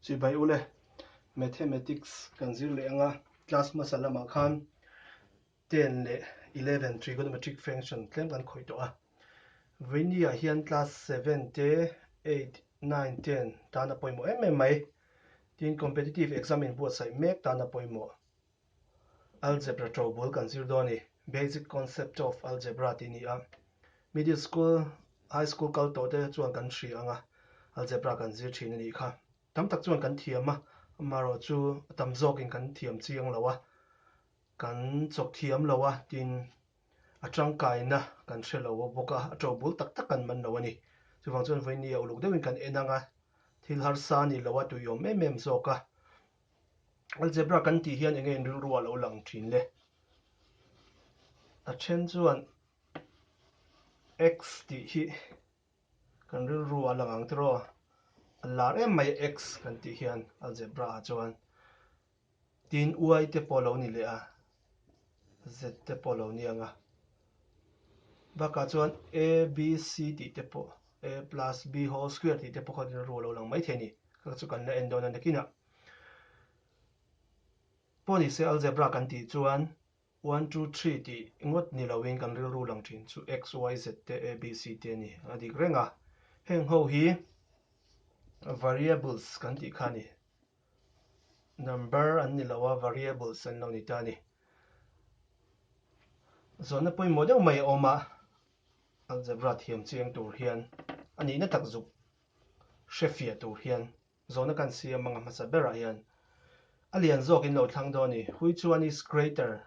Chibai ule, Mathematics kan zir leh anga class hmasa lamah khan ten leh eleven trigonometric function tlem kan khawih tawh a. Vaini ah hian class seven te eight, nine, ten tan a pawimawh em em mai. Tin competitive exam in buatsaih mek tan a pawimawh. Algebra to bul kan zir dawn i, Basic Concept of Algebra tih ni a, Middle School, High School kal tawh te chuan kan hria anga Algebra kan zir thin a nih kha. Tam tak chuan kan thiam a, amaherawh chu a tam zawkin kan thiam chiang lo a, kan chawk thiam lo a, tin a tangkaina kan hre lo bawk a, a to bul tak tak kan man lo a ni. Chuvang chuan vawinia uluk deuhin kan en anga thil harsa ni loa tuiawm em em zawka Algebra kan tih hian enge in rilru a lo lang thin le? A then chuan x tih hi kan rilru a lang ang tiraw? A lar em mai a x kan tih hian algebra ah chuan tin uai te pawh a lo ni leh a, Z te pawh lo ni ang a. Bakah chuan A, B, C tih te pawh A plus B whole square tih te pawh kha rilru a lo lang maithei ni. Kha chu kan la en dawn a nakin a. Pawh ni se algebra kan tih chuan one two three tih ngawt ni lo in kan rilru lang thin chu X, Y, Z te A, B, C te a ni. A dik reng a. Heng ho hi variables kan tih kha a ni. Number an ni loh a, variables an lo ni ta a ni. Zawhna pawimawh deuh mai a awm a, algebra thiam cheng tur hian a nihna takzuk hrefiah tur hian zawhna kan siam anga hmasa berah hian a lian zawkin lo thlang dawn a ni. Which one is greater?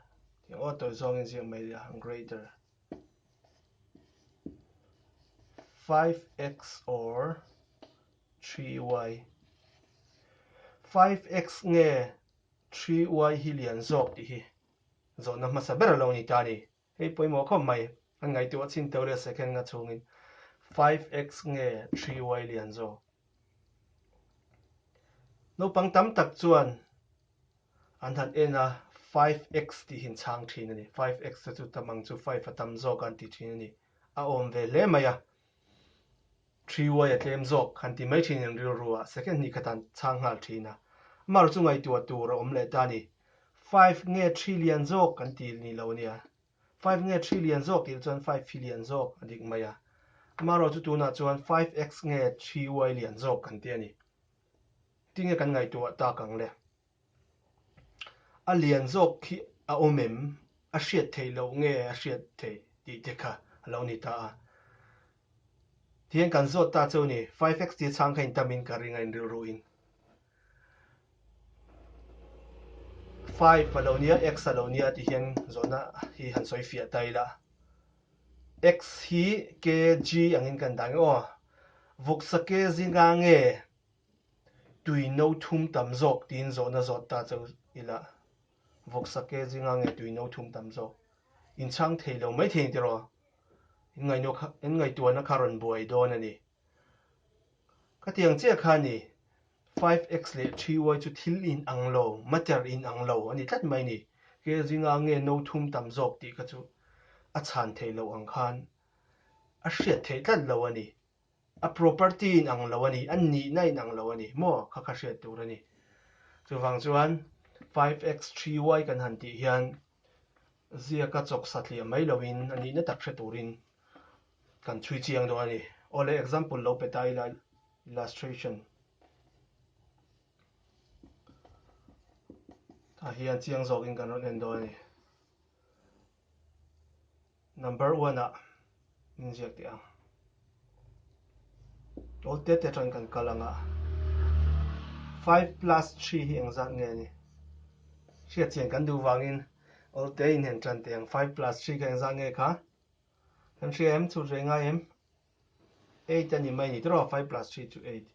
Tih aw tawi zawngin ziah mai le a, greater. 5x or 3y. 5x nge 3y hi lian zawk tih hi zawhna hmasa ber lo ni ta ni. Hei pawimawh khawp mai an ngaihtuah a chhin teuh le second nga chungin 5x nge 3y lian zawk. Naupang tam tak chuan an han en a 5x tih in chhang thin a ni. 5x te chu tam ang chu 5 a tam zawk an ti thin a ni. A awm ve hle mai a. Three uai a tlem zawk han ti mai thin in rilru ah second hnih khatan chhang nghal thin a. Amah rawh chu ngaihtuah tur a awm leh ta ni. Five nge three lian zawk kan ti nih loh nia. Five nge three lian zawk tih leh chuan five phi lian zawk a dik mai a. Amah rawh chu tunah chuan five x nge three uai lian zawk kan ti a ni. Tinge kan ngaihtuah tak ang le? A lian zawk khi a awm em? A hriat theih loh nge a hriat theih tih te kha a lo ni ta a. Tihian kan zawt ta cheu ni, five X ti chhang kha intam in ka ring a, in rilru in. Five a lo nia, X a lo nia tih hian zawtna hi han sawi fiah ta ila. X hi kg angin kan dan aw. Vuksa kg nga nge? Tui no thum tam zawk tiin zawhna zawt ta chau ila, vawk sak e, zing ange tui no thum tam zawk? In chhang thei lo mai thei ang tiraw? In ngaihno kha, in ngaihtuahna kha rawn buai dawn a ni. Ka tiang chiah kha a ni, five X leh three Y chu thil in ang lo, matter in ang lo a ni tlat mai a ni. Khe zing ange no thum tam zawk tih kha chu a chhan thei loh ang khan a hriat theih tlat lo a ni. A property in ang lo a ni, a nihna in ang lo a ni maw? Kha kha hriat tur a ni. Chuvang chuan five x three y kan han tih hian ziaka chawksa tliah mai lo in a nihna tak hre tur in kan chhui chiang dawn a ni. Aw le example lo pe ta ila illustration ah hian chiang zawk in kan rawn en dawn a ni. Number one ah min ziak teh ang. Aw tete aṭan kan kal ang a. Five plus three hi eng zat nge ni? Hria chian kan duh vangin aw te inhen ṭan teh ang. Five plus three kha eng zat nge kha? Kan hria em? Chhut ve ngai em? Eight a ni mai ni tawh rawh a, five plus three chu eight.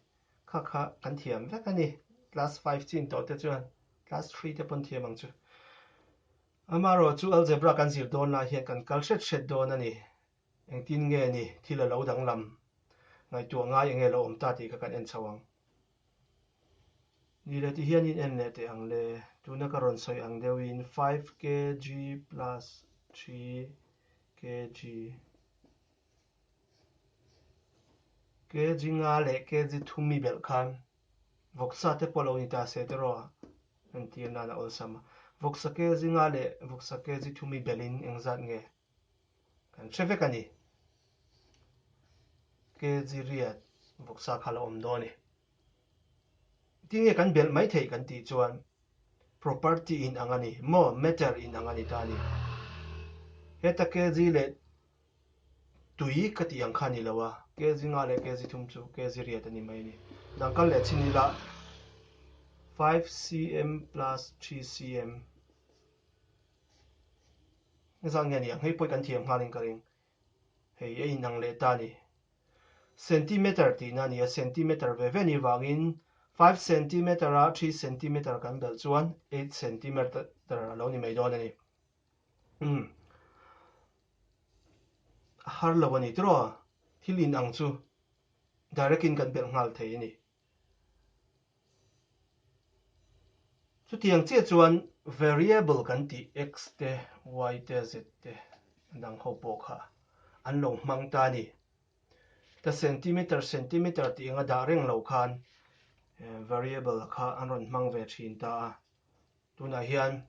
Kha kha kan thiam vek a ni. Class five chin tawh te chuan Class three te pawn thiam ang chu. Amarawh chu Algebra kan zir dawn lai hian kan kal hret hret dawn a ni. Engtin nge ni thil a lo danglam? Ngaihtuah ngai enge lo awm ta tih kha kan en chho ang. Ni leh ti hian in en leh teh ang le. Tuna ka rawn sawi ang deuh in five kg plus three kg. Kg nga leh kg thum mi belh khan vawksa te pawh lo ni ta se tiraw? Kan tir nan a awlsam a. Vawksa kg nga leh vawksa kg thum mi belhin eng zat nge kan hre vek a ni. Kg riat vawksa kha lo awm dawn a ni. Tinge kan belh mai theih kan tih chuan property inang a ni maw, matter inang a ni ta a ni. Heta kg leh Tui ka tih ang kha ni lo a, kg nghah leh kg thum chu kg riat a ni mai a ni. Dangkal leh Chinila five cm plus three cm nge zan nge a ni ang? Hei pawh i kan thiam nghal in ka ring. Hei a inang leh ta a ni. Centimeter tihna a ni a, centimeter ve ve ni vangin five centimeter a three centimeter kan belh chuan eight centimeter a lo ni mai dawn a ni. Umm. A har lo a ni tiraw? Thil in ang chu direct in kan belh nghal thei a ni. Chutiang chiah chuan variable kan tih x te y te z te a dang ho pawh kha an lo hmang ta a ni. Heta centimeter centimeter tih eng a dah reng lo khan variable kha an rawn hmang ve thin ta a. Tunah hian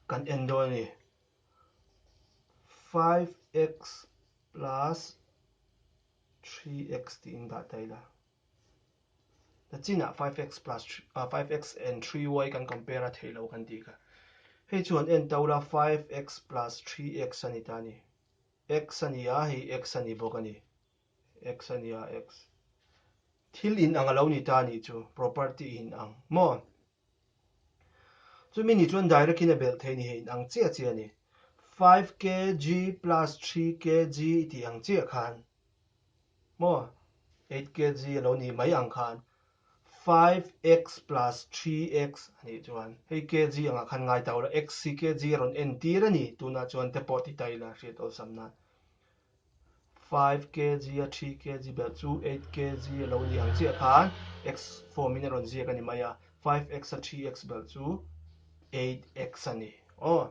kan en dawn a ni. Five x plus three x tih in dah ta ila. Na chinah five x plus ah, five x and three y kan compare a theilo kan tih kha. Hei chuan en ta ula five x plus three x a ni ta ni. X a ni a hei x a ni bawk a ni. X a nia X. Thil in ang a lo ni ta ni chu property in ang maw? Chu mi ni chuan direct in a belh thei ni he in ang chiah chiah a ni. Five kg plus three kg i tih ang chiah khan maw? Eight kg a lo ni mai ang khan five X plus three X a nih chuan hei kg ang ah khan ngai ta ula X hi kg a rawn en tir a ni tunah chuan te pawh ti ta ila hriat awlsam nan. Five kg a three kg ber chu eight kg a lo ni ang chiah khan x form in a rawn ziak a ni mai a, five x a three x ber chu eight x a ni. Aw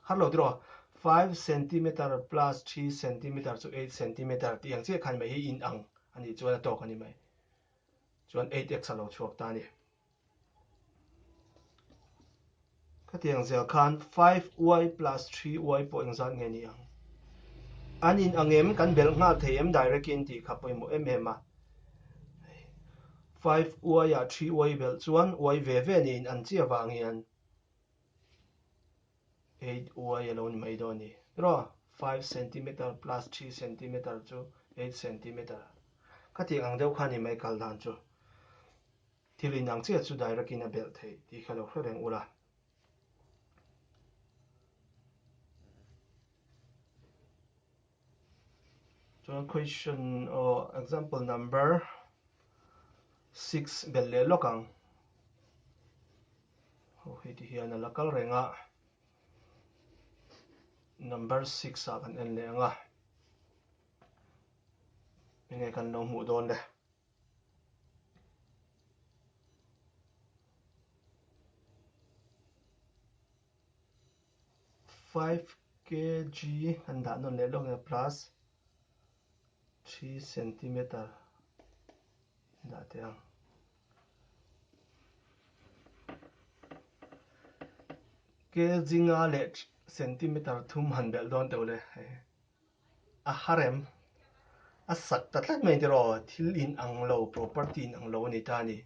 har lo tiraw five centimeter plus three centimeter chu eight centimeter tih ang chiah khan mai hi in ang a nih chuan a tawk a ni mai chuan eight x a lo chhuak ta a ni. Khatiang zel khan five uai plus three uai pawh eng zat nge ni ang? An in ang em? Kan belh nghal thei em direct in tih kha pawimawh em em a. Five uai ah three uai belh chuan uai ve ve ni in an chiah vang hian. eight uai alo ni mai dawn ni erawh five centimeter plus three centimeter chu eight centimeter ka tih ang deuh kha ni mai kal dan chu thil in ang chiah chu direct in a belh thei tih kha lo hre reng ula Chuan question aw example number six bel leh lawk ang ho hi ti hian ala kal reng a number six ah kan en leh anga enge kan lo hmuh dawn le. Five KG an dah nawn leh lawk nia plus three centimeter an dah teh ang. KG nga leh centimeter thum han belh dawn teuh le. A harem a sak ta tlat mai tiraw, thil in ang lo, property in ang lo a ni ta a ni.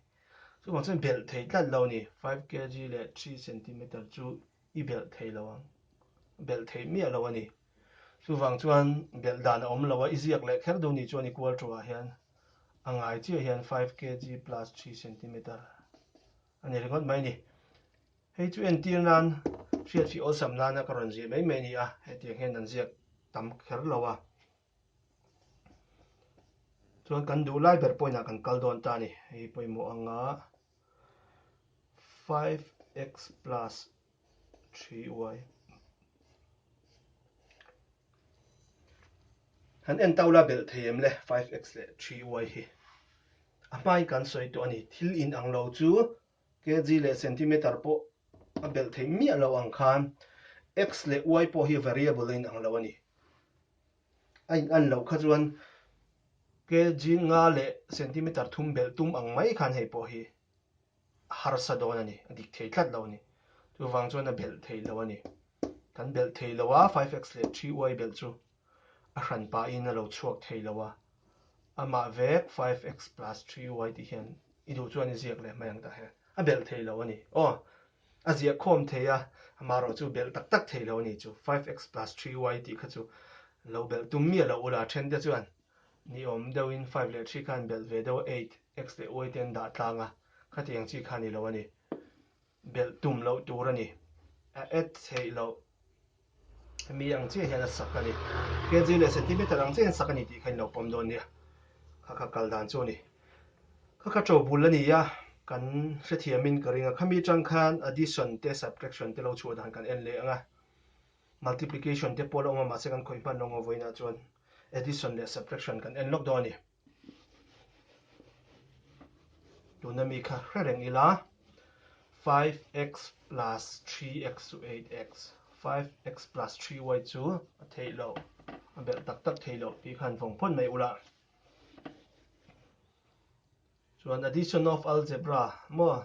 Chuvang chuan belh thei tlat lo a ni. Five KG leh three centimeter chu i belh thei lo ang, belh thei miah lo a ni. Chuvang chuan belh dan a awm lo a, i ziak leh kher duh ni chuan i kual thu ah hian a ngai chiah hian five KG plus three centimeter. A ni ringawt mai ni. Hei chu entir nan hriat fih awlsam nana ka rawn zir mai mai ni a, hetiang hian an ziak tam kher lo a. Chuan kan duh lai ber point ah kan kal dawn ta a ni. Hei pawimawh anga five x plus ṭhi uai. Han en tau la belh thei em le five x leh ṭhi uai hi. A hmai kan sawi tawh a ni, thil in ang lo chu kg leh centimeter pawh a belh thei miah lo ang khan x leh uai pawh hi variable a in ang lo a ni. A in an loh kha chuan kg nga leh centimeter thum belh tum ang mai khan hei pawh hi harsa dawn a ni, a dik thei tlat lo a ni. Chuvang chuan a belh thei lo a ni. Kan belh thei lo a, 5X leh 3Y belh chu a hran pahin a lo chhuak thei lo a. Amah vek 5X plus 3Y tih hian i duh chuan i ziak leh hmai ang tah hian a belh thei lo a ni. Aw, a ziah khawm thei a, amah erawh chu belh tak tak thei lo a ni chu. 5X plus 3Y tih kha chu lo belh tum miah lo ula then te chuan. Ni awm deuhin five leh three khan belh ve deuh a eight, x leh y te an dah tlang a, khatiang chi kha ni lo a ni. Belh tum loh tur a ni. A add theih loh mi ang chiah hian a sak a ni. Kg leh centimeter ang chiahin sak a ni tih kha in lo pawm dawn nia. Kha kha kal dan chu a ni. Kha kha to bul a ni a, kan hrethiamin ka ring a. Khami tang khan addition te subtraction te lo chhuah dan kan en leh ang a. Multiplication te pawh la awm a, mahse kan khawi hman lo ngawh vawiinah chuan addition leh subtraction kan en lawk dawn a ni. Tuna mi kha hre reng ila, 5x plus 3x chu 8x, 5x plus 3y chu a theih loh, a belh tak tak theih loh tih khan vawng pawn mai ula. Chuan addition of algebra maw?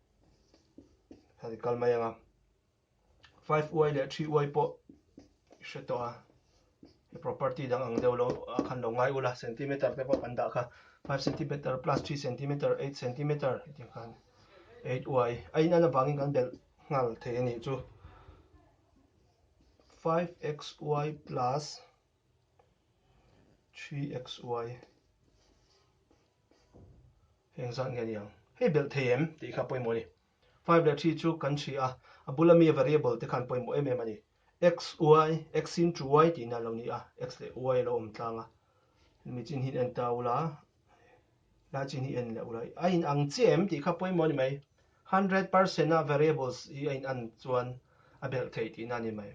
Hei kal mai anga. 5 uai leh 3 uai pawh i hre tawh a. He property dang ang deuh lo khan lo ngai ula centimeter te pawh kan dah kha. 5 centimeter plus 3 centimeter 8 centimeter ti khan. 8 uai. A in an avangin kan belh nghal thei a nih chu. 5xy plus 3xy hei engzat nge aniang hei belh thei em tih kha pawimawh a ni five leh three chu kan chhi a a bula mi variable te khan pawimawh em em a ni xy x in two y tihna lo ni a x leh y lo awm tlang a hemi chin hi enter a ula. lai chin hi en leh ulai a in ang chiah em tih kha pawimawh a ni mai hundred percent a variables i a in an chuan a belh thei tih na a ni mai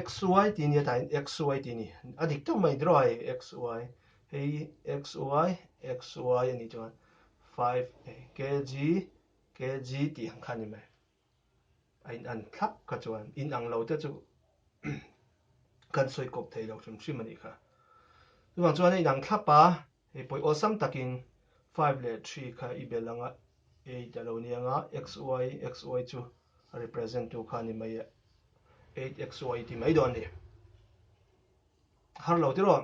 x y tih ni atain x y tih ni a dik teuh mai draw hei x y hei x y x y a ni chuan five kg kg tih ang kha a ni mai A in an thlap kha chuan in ang lo te chu kan sawi kawp thei lo hrim hrim a nih kha. Chuvang chuan a in ang thlap a, hei pawih awlsam takin five leh three kha i bel anga eight a lo ni anga xy, xy chu a represent tu kha a ni mai a, eight xy i ti mai dawn a ni. Harlo tiraw?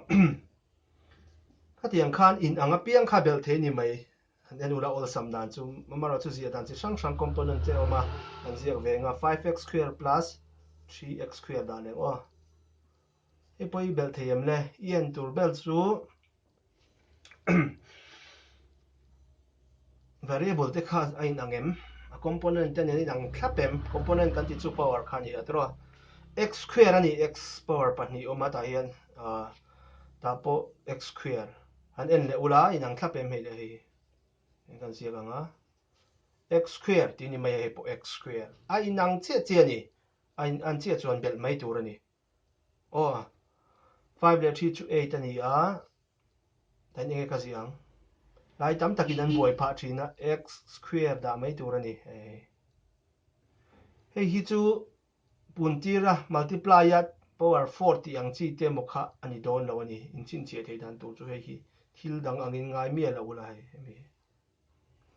Khatiang khan in ang apiang kha a bel thei a ni mai. An en ula awlsam dan chu mam erawh chu ziah dan chi hrang hrang component te a awm a, an ziak ve ang a, five x square plus three x square dah leh aw. Hei pawh i belh thei em le? I en tur ber chu variable te kha a inang em? A component te nen a inang thlap em? Component kan tih chu power kha a ni tawh a, x square a ni, x power pahnih a awm a tah hian, tah pawh x square. An en leh ula in ang thlap em hei leh hi eng kan ziak anga x square tih ni mai a hei pawh x square a in ang chiah chiah a ni a in an chiah chuan belh mai tur a ni aw a five leh three chu eight a ni a dan enge ka ziah ang lai tam takin an buai phah thin a x square dah mai tur a ni hei hei hi chu Puntira, multiply a, power four tih ang chi te emaw kha a ni dawn lo a ni. Inchhinchhiah thei dan tur chu hei hi thil dang angin ngai miah loh ula hei hemi hi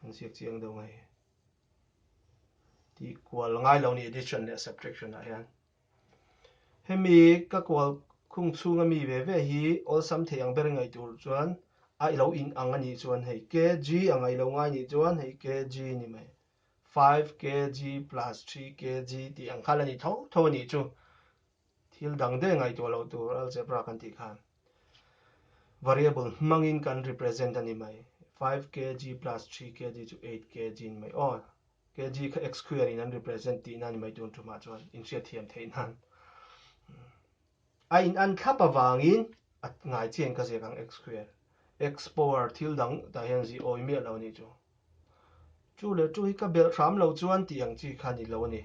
an ziak chiang deuh ngai hi. Tih kual ngai lo a ni addition leh subtraction ah hian. Hemi ka kual khung chhung a mi ve ve hi awlsam thei ang ber ngaih tur chuan a lo in ang a nih chuan hei kg a ngailo ngai nih chuan hei kg a ni mai. Five kg plus three kg tih ang khan a ni tho tho a nih chu. Thil dang de ngai tawh loh tur algebra kan tih khan variable hmangin kan represent a ni mai. Five kg plus three kg chu eight kg ni mai aw kg kha x square in an represent tihna a ni mai tur chu mah chuan inhriat thiam theih nan. A in an thlap avangin a ngai chian ka ziak ang xql. Explorer thil dang tah hian zih awi miah lo nih chu. Chu leh chu hi ka belh hram lo chuan tih ang chi kha ni lo ni.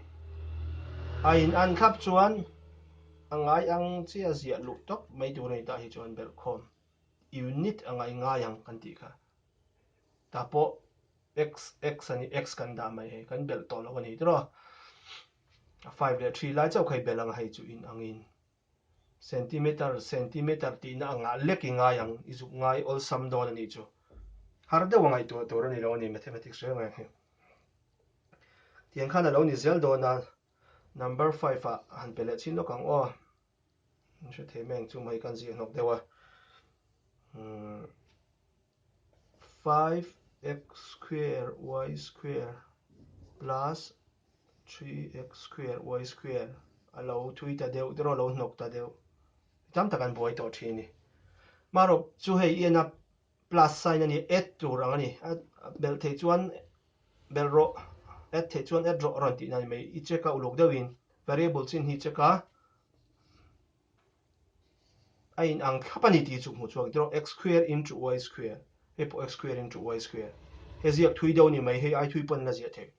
A in an thlap chuan a ngai ang che a ziah luh tawp mai tur a ni tah hi chuan belh khawm unit a ngai ngai ang kan tih kha. Tah pawh xx a ni x kan dah mai hei kan belh tawh lo a ni tiraw. five leh three lai chauh kha i bel ang a hei chu in angin centimeter centimeter tihna a ngah lek i ngai ang i zuk ngai awlsam dawn a nih chu har deuh a ngaihtuah tur a ni lo a ni mathematics rel ngai ang hi tiang khan a lo ni zel dawn a number five ah han pe leh chin lawk ang aw. Min hre thei meng chu mai kan ziah hnawk deuh a. Hmm. 5x square y square plus 3x square y square a lo thui ta deuh te rawh lo hnawk ta deuh tam tak an buai tawh thin ni marok chu hei iana Plus sign a ni, add tur ang a ni. Belh theih chuan belh rawh, add theih chuan add rawh a rawn tihna a ni mai. I check a uluk deuh in variable chin hi i check a, a in ang thlap a ni tih chu hmu chhuak i tirh aw, x square into y square, hei pawh x square into y square. He ziak thui deuh a ni mai, hei aithui pawh an la ziah theih.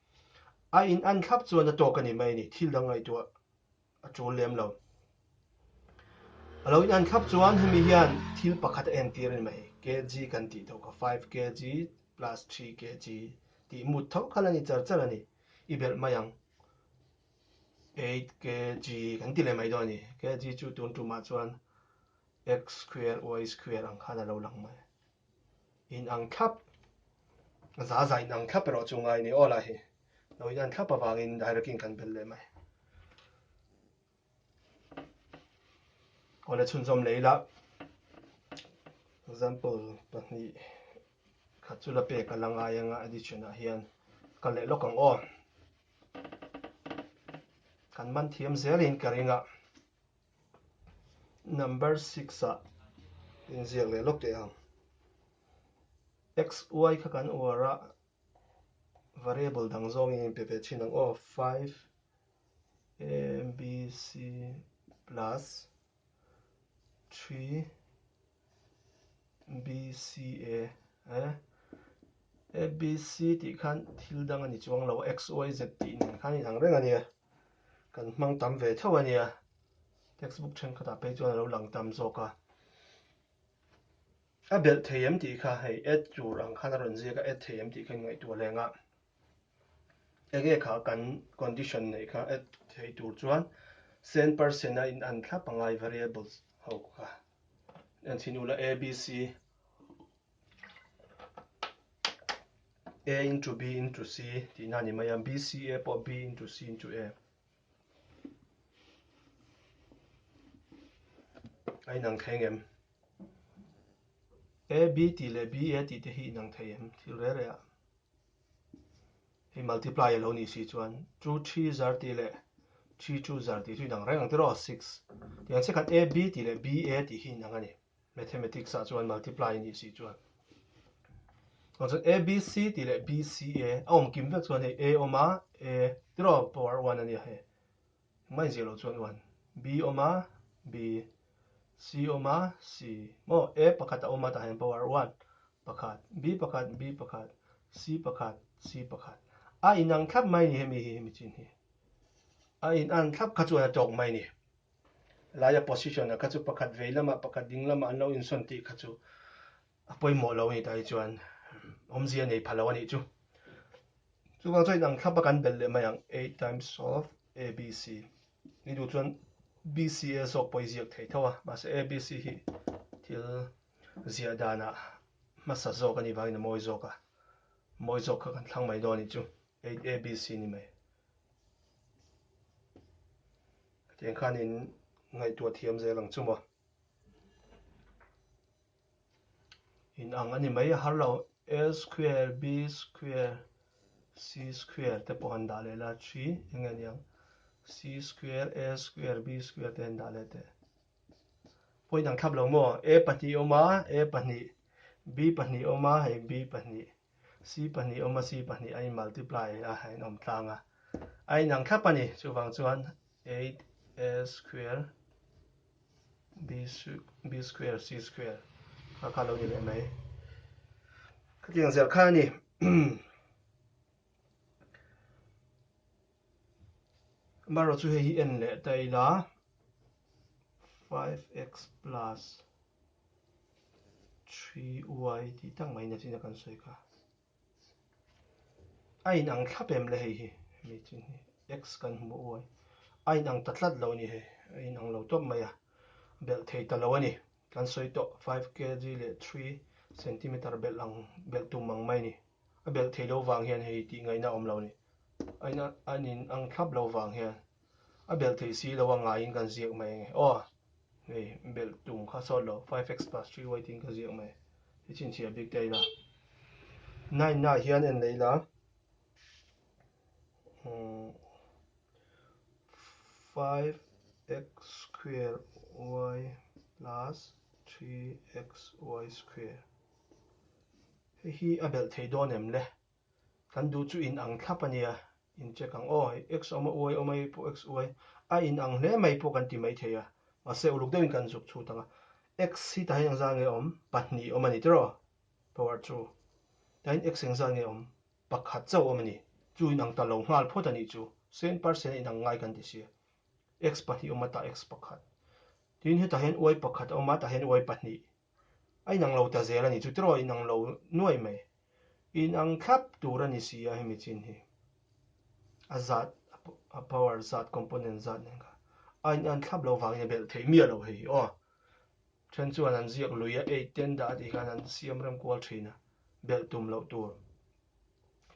A in an thlap chuan a tawk a ni mai a ni, thil dang ngaihtuah a tul lem lo. A lo inhan thlap chuan hemi hian thil pakhat a entir a ni mai, kg kan tih tho kha, five kg plus three kg tih mut tho khan a ni char char a ni. I belh mai ang, eight kg kan ti leh mai dawn a ni. Kg chu tun tumah chuan x square y square ang khan a lo lang mai. in ang thlap, za za in ang thlap erawh chu ngai ni awla hi lo in an thlap avangin direct in kan bel leh mai. Awle chhun zawm lei la. Example pahnih khat chu la pek a la ngai anga addition ah hian ka leh lawk ang aw. Kan man thiam zelin ka ring a. Number six a inziak leh lawk teh ang. X, Y kha kan uar a, variable dang zawng in pe ve thin ang aw. Five A, B, C plus three B C A a a B C tih khan thil dang a ni chuang lo X Y Z tih nen khan a inang reng a nia kan hmang tam ve theuh a nia textbook thenkhatah phei chuan a lo lang tam zawk a a belh thei em tih kha hei a tur ang khan a rawn ziak a a thei em tih kha ingaihtuah lengah. Eng nge kha kan condition neih kha a theih tur chuan cent per cent a in an thlap a ngai variables ho kha an chhin ula a b c a into b into c tihna a ni mai a b c a pawh b into c into a a inang thei ngem a b tih leh b a tih te hi inang thei em thil rel rel a Hei multiply a lo nih si chuan chu three zar tih leh three chu zar tih chu inang reng ang tiraw six tih ang che khat a b tih leh b a tih hi inang a ni mathematics ah chuan multiply a nih si chuan ang chuan a b c tih leh b c a a awm kim vek chuan hei a awm a a tiraw power one a nia hei Mai zia lo chuan uan. B awm a, B. C awm a, C. Maw? A pakhat a awm a tah hian pawh ar uan. Pakhat, B pakhat, B pakhat, C pakhat, C pakhat. A inang thlap mai ni hemi hi hemi chin hi. A inan thlap kha chuan a tawk mai ni. Laia position a kha chu pakhat vei lamah pakhat ding lamah an lo insawn tih kha chu A pawimawh lo a ni ta hi chuan awmzia a nei pha lo a nih chu. Chuvang chuan inang thlapa kan bel leh mai ang, Eight times of ABC. Ni duh chuan BCA zawk pawh i ziak thei tho a, mahse ABC hi thil ziah danah hmasa zawk a ni vangin a mawi zawk a, mawi zawk kha kan thlang mai dawn a nih chu, Eight ABC a ni mai. Tiang khan in ngaihtuah thiam zel ang chu maw. in ang ani mai a har lo a square b square c square te pawh han dah leh la ṭhi eng nge niang c square a square b square te han dah leh teh point ang thlap lo maw a pahnih a awm a a pahnih b pahnih a awm a hei b pahnih. Si pahnih awma si pahnih a inmultiply a, a inawm tlang a, a inang thlap a ni. Chuvang chuan eight a square b square c square kha kha lo ni leh mai. Khatiang zelh kha a ni. Erawh chu hei hi en leh ta ila, five x plus three y tih tak mai nat ina kan sawi kha. A inang thlap em le hei hi, hemi chin hi x kan hmu uai. A inang ta tlat lo a ni hei, a inang lo tawp mai a, belh thei ta lo a ni. Kan sawi tawh five KG leh three centimeter belh ang, belh tum ang mai ni. A belh thei lo vang hian hei tih ngaihna a awm lo ni. Aina an in ang thlap lo vang hian a belh thei si lo a ngaiin kan ziak mai ang e. Aw! Hei belh tum kha sawt lo, five x plus three y tiin ka ziak mai. I chhinchhiah bik te a ila. Nine-a hian en la ila. Five x square y plus three x y square hei hi a belh thei dawn em le kan duh chu in ang thlap a nia in check ang aw hei x awm a y awm a hei pawh x y a in ang hle mai pawh kan ti mai thei a mahse uluk deuhin kan zuk chhut ang a x hi tah hian engzah nge awm pahnih awm a ni tirh aw power two tahin x engzah nge awm Pakhat chauh awm a ni. Chu inang ta lo nghal phawt a nih chu. Sen par sena inang ngai kan ti si. X pahnih awm a tah X pakhat. Tin, hetah hian Y pakhat a awm a, tah hian Y pahnih. A inang lo ta zel a ni. Chu tiraw inang lo nuai mai. Inang thlap tur a ni si a hemi chin hi. A zat, a power zat, component zat nen kha. A inang thlap lo vangin a belh thei miah lo hei hi aw. Then chuan an ziak lui a ei ten dah tih hian an siam rem kual thin a, belh tum loh tur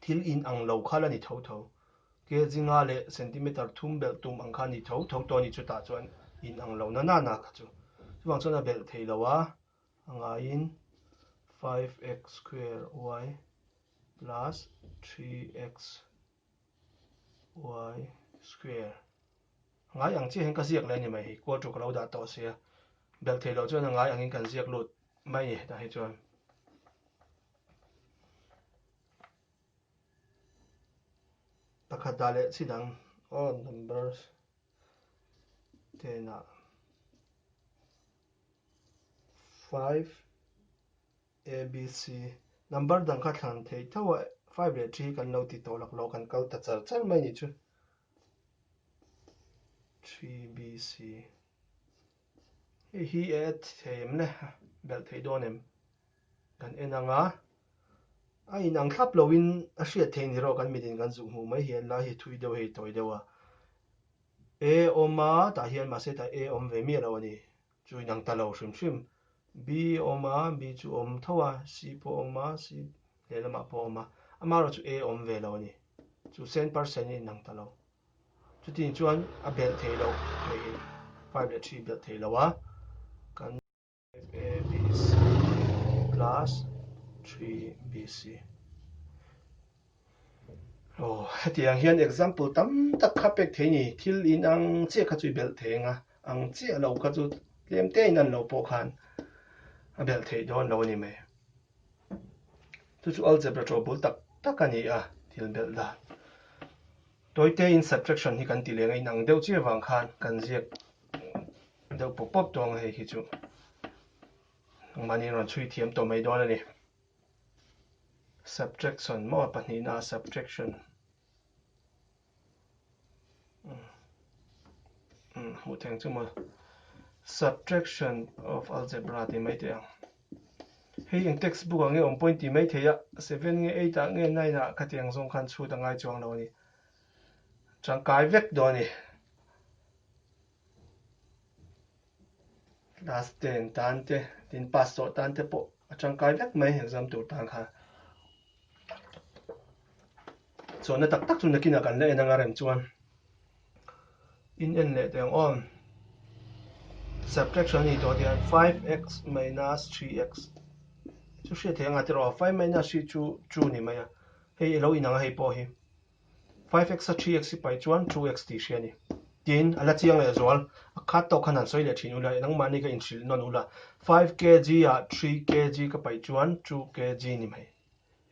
thil in ang lo kha la ni tho tho. Kg nga leh centimeter thum belh tum ang kha ni tho tho tawh a ni chutah chuan in ang lo nana na kha chu. Chuvang chuan a belh thei lo a, a ngaiin 5x square y plus 3x y square ngai ang chiahin ka ziak leh ni mai hi quarter ka lo dah tawh sia belh thei lo chuan ngai angin kan ziak lut mai ni tah hi chuan pakhat dah leh chhi dang all numbers tena five A, B, C, Number dang kha thlan thei thauha five leh three hi kan lo ti tawh lak lo, kan kal ta char char mai ni chu. Three, B, C, hei hi e add thei em le, belh thei dawn em? Kan en ang a, a inang thlap loin a hriat thei ni rawh kan mitin kan zuk hmuh mai hi an lai hi thui deuh hei tawi deuh a. A awm a, tah hian mahse tah A awm ve miah lo a ni. Chu inang ta lo hrim hrim. B a awm a, B chu a awm tho a, C pawh a awm a, C lehlamah pawh a awm a, amaherawh chu A a awm ve lo a ni. Chu cent par cent hi inang ta lo. Chutiang chuan a belh thei loh niin five leh three belh thei lo a, kan. FABC plus three BC. Aw, hetiang hian example tam tak kha pek thei ni, thil in ang chiah kha chu i belh thei ang a, ang chiah lo kha chu tlem te in an lo pawh khan a belh thei dawn lo a ni mai. Chu chu algebra tawh bul tak tak a ni a, thil belh dan. Tawi te in subtraction hi kan ti leng a, in ang deuh chiah vang khan kan ziak deuh pawp pawp dawn ang a hei khi chu. Engmahni in rawn chhui thiam tawh mai dawn a ni. Subtraction maw pahnihna a subtraction hmuh theng chu ma subtraction of algebra ti mai te ang hei eng textbook ang e awm point ti mai thei a 7 nge 8 a nge 9 a kha tiang zong khan chhut angai chuang lo ni chang kai vek do ni Class ten tan te, tin pass sawh tan te pawh a tangkai vek mai exam tur tan kha. Chawna tak tak chu nakinah kan la en anga rem chuan. In en leh teng aw. Subtraction ni tawh tian 5x minus 3x. Chu hriat theih anga tirh aw 5 minus 3 chu 2 ni mai a. Hei alo in ang a hei pawh hi. 5x a 3x i pai chuan 2x tih hria ni. Tiin a la chiang leh zual, a khat tawk khan han sawi leh thin ula, enangmahni ka inhrilh nawn ula, 5 kg ah 3 kg ka paih chuan 2 kg ni mai.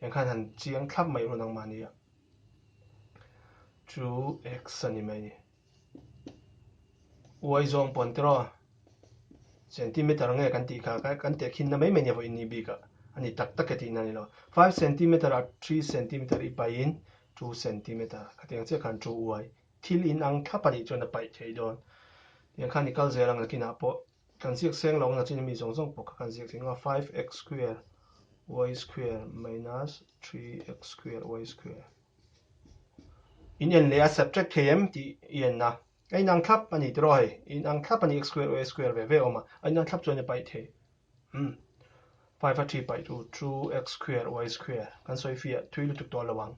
Engkhan han chiang thlap mai ula nangmahni ah. 2x a ni mai ni. U Aizawng pawn tiraw centimeter nge kan tih kha ka kan teh khin na mai mai nia vaw inni bik ah ani tak tak e tih na nilo five centimeter ah three centimeter i pai in two centimeter ka tiang chiah khan two uai thil in ang thlap anih chuan a paih thei dawn tiang khan i kal zel ang nakin ah pawh kan ziak seng lo ang nachin mi zawng zawng pawh kha kan ziak thei nga five x square y square minus three x square y square In en leh a subtract thei em tih i en a, a inang thlap a ni tiraw hei, i inang thlap a ni, x square aw a square ve ve awm a, a inang thlap chuan i paih thei em, five a three paih chu two x square aw a square kan sawi fi a, thui lutuk tawh lo ang,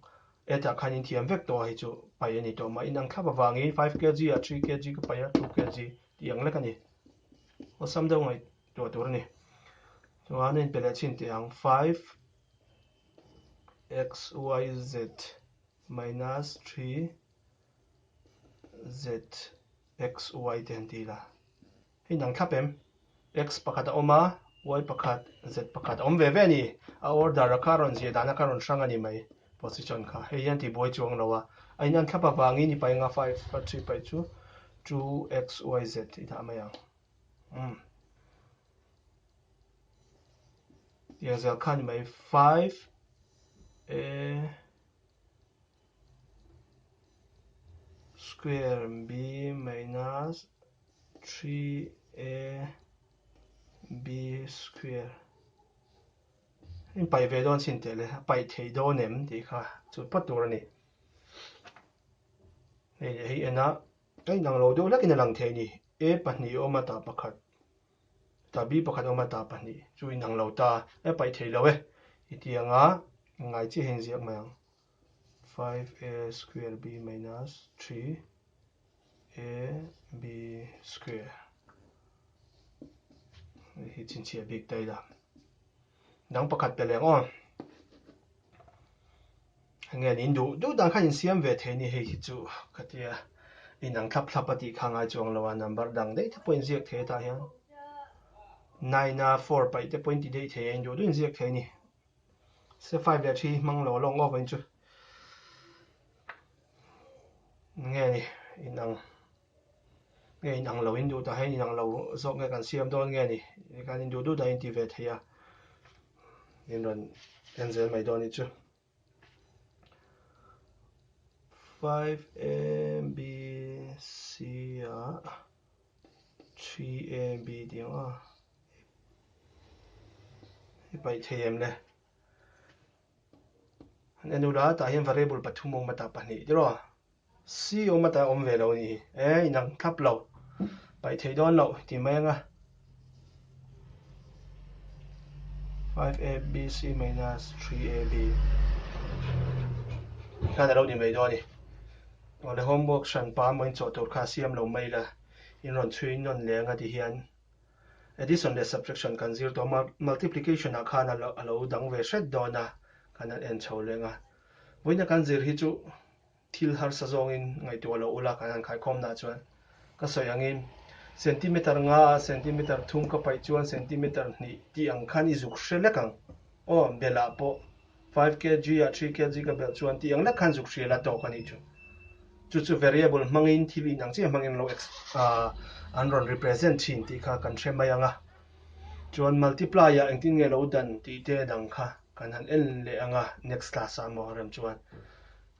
eight ah khan inthiam vek tawh hi chu paih a ni tawh mah, inang thlap avangin five kg ah three kg ka paih a two kg tih ang lek a ni, awesome deuh ngaih duah tur a ni, chuan a inpe leh chin teh ang five xyz minus 3zxy te han ti la, hei an ang thlap em? X pakhat a awm a, y pakhat, z pakhat a awm ve ve a ni. A order a kha a rawn ziah dan a kha a rawn hrang a ni mai position kha. Hei hian tih buai chuang lo a, a in anthlap avangin i painga five a three paih chu two xyz i dah mai ang. Tia zel kha ni mai five e square b minus three a b square in pai ve don sin te le pai thei don em ti kha chu pa tur ani hei hei ena kai nang lo deuh hlek in a lang thei ni a pahnih awm a ta pakhat Tah bi pakhat awm a tah pahnih chu in ang lo ta e paih thei lo e i ti ang a, in ngai chiah hi in ziak mai ang five a square b minus three a b square hi chinchhiah bik ta ila. Dang pakhat pe leng aw. Enge an indu duh dan kha insiam ve thei ni hei hi chu ka tia inang thlap thlap a tih kha ngai chuang lo a number dang daih te pawh inziak thei atah hian nine a four paih te pawh inti daih thei a induh duh inziak thei ni se five leh three hmang lo lawng aw vain chu nge ni inang Nge in ang lo in duh ta hian in ang lo zawk nge kan siam dawn nge ni? Kan in duh duh dahin ti ve thei a, in rawn en zel mai dawn hi chu. 5AB ah 3AB tih ang a, i paih thei em le. An en ula, tah hian variable pathum awm ata pahnih te rawh. C awm ata awm ve lo ni. E inang thlap lo. Paih thei dawn lo ti mai anga. 5abc minus 3ab. Khan alo ni mai dawn ni. Ole homework hran pa mawiin chawh tur kha siam lo mai la. In rawn chhui in nawn leh anga ti hian. Addition leh subtraction kan zir tawh a, multiplication ah khan a lo dang ve hret dawn a, kan han en chho leng a. Vawiin a kan zir hi chu thil harsa zawngin ngaihtuah lo ula kan han khaikhawm nah chuan ka sawi angin centimetre nga a centimetre thum ka paih chuan centimetre hnih tih ang khan i zuk hre lek ang aw, belah pawh Five kg ah three kg ka belh chuan tih ang deuh khan zuk hria la tawk a nih chu. Chu chu variable hmangin thil inang chiah hmangin an lo an rawn represent thin tih kha kan hre mai ang a. Chuan multiply ah engtin nge lo dan tih te dang kha kan han en leh ang a next class ah emaw rem chuan.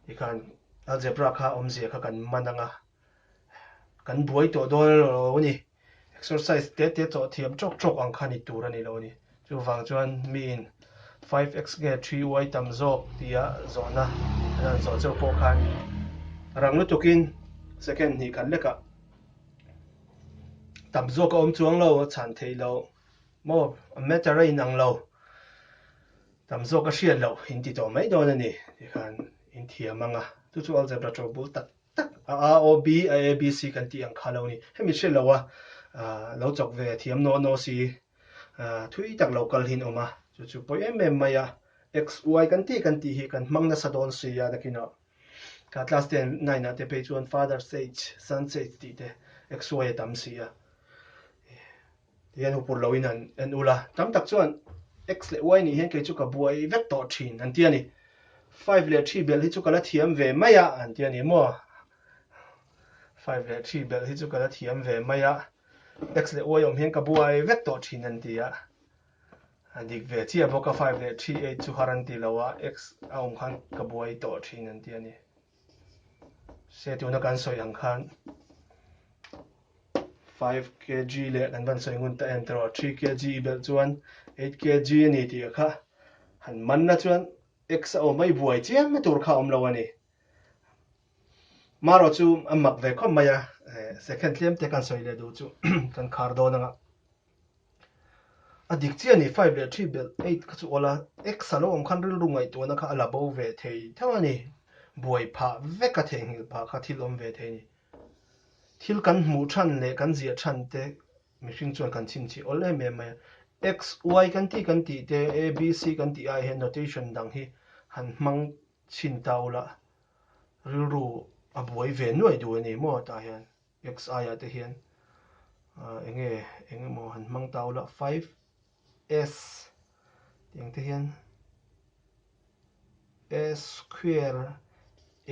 Tikhan algebra kha awmzia kha kan man ang a. Kan buai tawh dawn emaw lo a ni. Exercise tete chawh thiam chawk chawk ang kha ni tur a ni lo a ni. Chuvang chuan miin five x nge three uai tam zawk tia zawhna a rawn zawh chauh pawh khan rang lutukin second hnih khat lekah tam zawk a awm chuang lo, a chhan theih lo maw, a matter a inang lo, tam zawk a hriat loh inti tawh mai dawn a ni tih khan inthiam ang a. Chu chu algebra chawlhbul tak tak a a o b a a b c kan tih ang kha lo ni hemi hre lo a lo chawk ve a thiam naw naw si thui tak lo kal hin awm a chu chu pawih em em mai a x y kan tih kan tih hi kan hmang nasa dawn si a nakin a ka class ten nine ah te pawh hi chuan father sage son sage tih te x y a tam si a. Tihian hupur loin an an ulh a, tam tak chuan X leh Y nih hian kei chu ka buai vek tawh thin an ti a ni. Five leh three belh hi chu ka la thiam ve mai a an ti a ni maw? Five leh three belh hi chu ka la thiam ve mai a, X leh Y awm hian ka buai vek tawh thin an ti a. A dik ve chiah bawk a, five leh three eight chu har an ti lo a, X a awm khan ka buai tawh thin an ti a ni. Hre tuna kan sawi ang khan 5 kg leh kan kan sawi ngun ta em tero 3 kg i belh chuan 8 kg a ni tih kha han manna chuan x a awm mai buai chiang na tur kha awm lo a ni maro chu a mak ve khawp mai a second tlem te kan sawi leh duh chu kan khar dawn ang a A dik chiah a ni, five leh three bel eight kha chu awla x a lo awm khan rilru ngaihtuahna kha a la bo ve thei theuh a ni. Buai phah vek a theh nghilh pah kha thil awm ve thei a ni. Thil kan hmuh than leh kan ziah than te mihring chuan kan chhinchhih awlh em em mai a. X, Y kan tih kan tih te, A, B, C kan tih ah hian notation dang hi han hmang chhin ta ula rilru a buai ve nuaih duh a ni maw tah hian. Xi ah te hian eng nge eng emaw han hmang ta ula five s tih ang te hian s square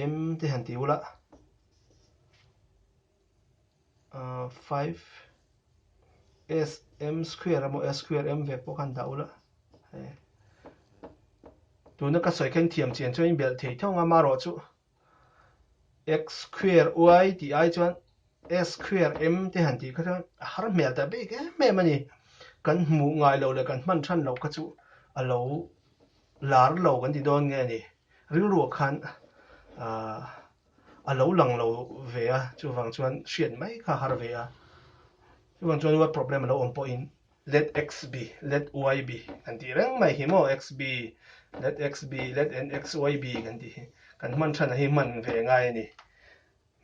m te han ti ula ah five s m square emaw s square m vek pawh khan dah ula tuna ka sawi kha in thiam chian chuan in belh thei thung a marawh chu X khuir y tih ai chuan S khuir M te han tih kha chuan a har hmel ta bik em em a ni. Kan hmuh ngai lo leh kan hman than lo kha chu a lo lar lo kan ti dawn nge a ni. Rilruah khan a lo lang lo ve a, chuvang chuan hriat mai kha a har ve a. Chuvang chuan word problem a lo awm pawhin let x be, let y be kan tih reng mai hi maw, x be, let x be, let nxy be kan tih hi. Kan hman thana hi hman ve ngai a ni.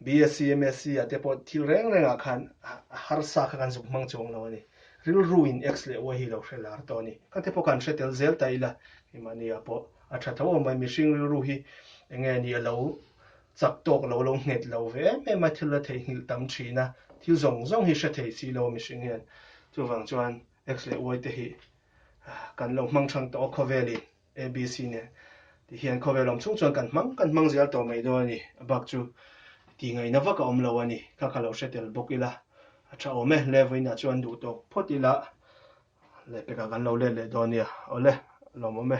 BSc, MSc a te pawh thil reng rengah khan harsa kha kan zuk hmang chuang lo a ni. Rilru in x leh y hi lo hre lar tawh a ni. Ka te pawh kan hre tel zel ta ila, kei mahnia pawh a tha tho awm mai. Mihring rilru hi enge a ni a lo chak tawk lo lo nghet lo ve em em a thil la thei hnilh tam thin a, thil zawng zawng hi hre thei si lo mihring hian. Chuvang chuan X leh Y te hi kan lo hmang chang tawh a khawvel in A B C nen tih hian khawvel awm chung chuan kan hmang kan hmang zial tawh mai dawn a ni, a bak chu ti ngai na vak a awm lo a ni, kha ka lo hre tel bawk ila a tha awm e, Levin ah chuan duh tawk phawt ila lehpek ah kan lo let leh dawn nia, awle lawmawm e.